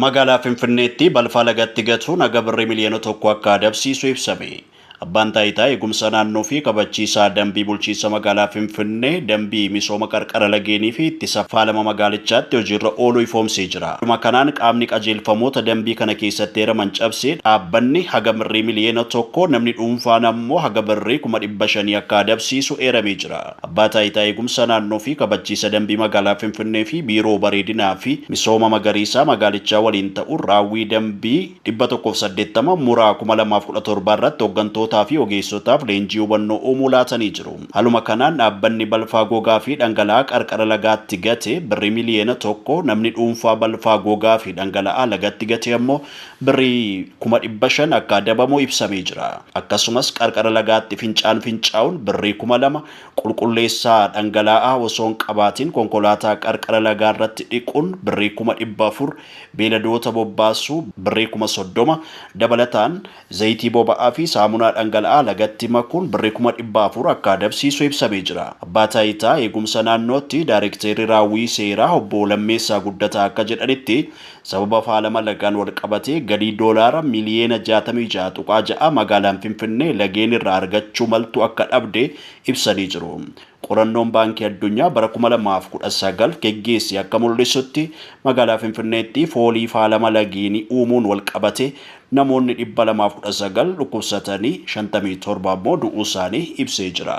Magaalaa Finfinneetti balfaa lagatti gatuun haga birrii miliyoona tokko akka adabsiisu ibsame. Abbaan Taayitaa Eegumsa Naannoo fi Kabachiisaa Dambii Bulchiinsa Magaalaa Finfinnee dambii misooma qarqara lageenii fi ittisa faalama magaalichaatti hojiirra oolu ifoomsee jira. Haaluma kanaan qaamni qajeelfamoota dambii kana keessatti eeraman cabse dhaabbanni haga birrii miliyoona tokko, namni dhuunfaan ammoo haga birrii kuma dhibba shanii akka adabsiisu eeramee jira. Abbaa Taayitaa Eegumsa Naannoo fi Kabachiisa Dambii Magaalaa Finfinnee fi Biiroo Bareedinaa fi Misooma Magariisaa magaalichaa waliin ta'uun raawwii dambii 180 Muraa 2017 irratti hoggantootaa fi ogeessotaaf leenjii hubannoo uumuu laatanii jiru. Haaluma kanaan dhaabbanni balfaa gogaa fi dhangala'aa qarqara lagaatti gate birrii miliyoona 1, namni dhuunfaa balfaa gogaa fi dhangala'aa lagatti gate ammoo Birrii kuma 500 akka adabamu ibsamee jira. Akkasumas qarqara lagaatti fincaan fincaa'uun birrii kuma 2, qulqulleessaa dhangalaa'aa osoo hin qabaatiin konkolaataa qarqara lagaa irratti dhiquun birrii kuma 400, beeladoota bobbaasuu birrii kuma 30, dabalataan zayitii boba'aa fi saamunaa dhangala'aa lagatti makuun birrii kuma 400 akka adabsiisu ibsamee jira. Abbaa Taayitaa Eegumsa Naannootti Daarekteerri Raawwii Seeraa Obbo Lammeessaa Guddataa akka jedhanitti, Sababa faalama lagaan walqabatee galii doolaara miliyeena 66.6 magaalaan Finfinnee lageen irraa argachuu maltu akka dhabde ibsanii jiru. Qorannoon Baankii Addunyaa bara 2019 geggeesse akka mul'isutti magaalaa Finfinneetti foolii faalama lageenii uumuun walqabatee namoonni 219 dhukkubsatanii 57 ammoo du'uusaanii ibsee jira.